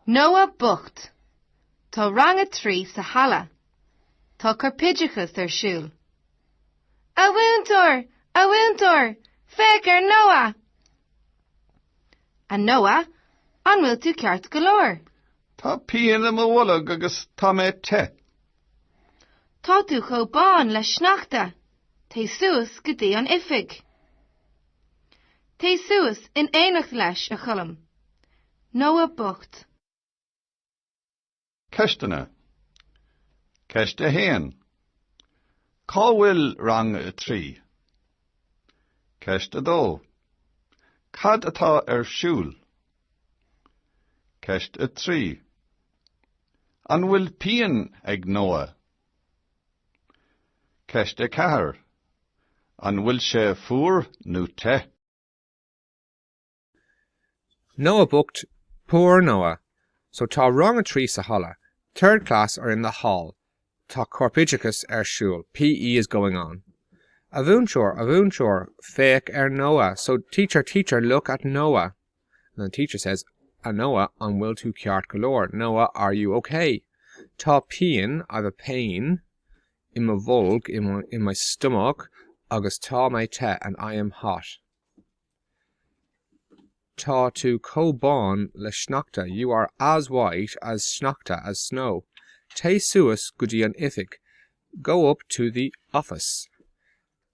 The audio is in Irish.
Noah bocht! Tá rang a trí sa halla. Tá corpoideachas ar siúl. A mhúinteoir! A mhúinteoir! Féach ar Noah! A Noah, an bhfuil tú ceart go leor? Tá pian i mo bholg agus tá mé te. Tá tú chomh bán le sneachta. Téigh suas go dtí an oifig. Téigh suas in éineacht leis, a Choilm. Noah bocht. Ceisteanna Ceist 1. Cá bhfuil rang a trí? Ceist 2. Cad atá ar siúl? Ceist 3. An bhfuil pian ag Noah? Ceist 4, An bhfuil sé fuar nó te? Noah bocht, poor Noah! So tá rang a trí sa halla, third class are in the hall tá corpoideachas ar siúl, PE is going on. A mhúinteoir, a mhúinteoir, féach ar Noah, so, teacher, teacher, look at Noah. and the teacher says A Noah, an bhfuil tú ceart go leor? Noah, are you ok? Tá pian, I've a pain, i mo bholg, in my, in my stomach, agus tá mé te, and I am hot. Tá tú chomh bán le sneachta, you are as white as sneachta, as snow. Téigh suas go dtí an oifig, go up to the office.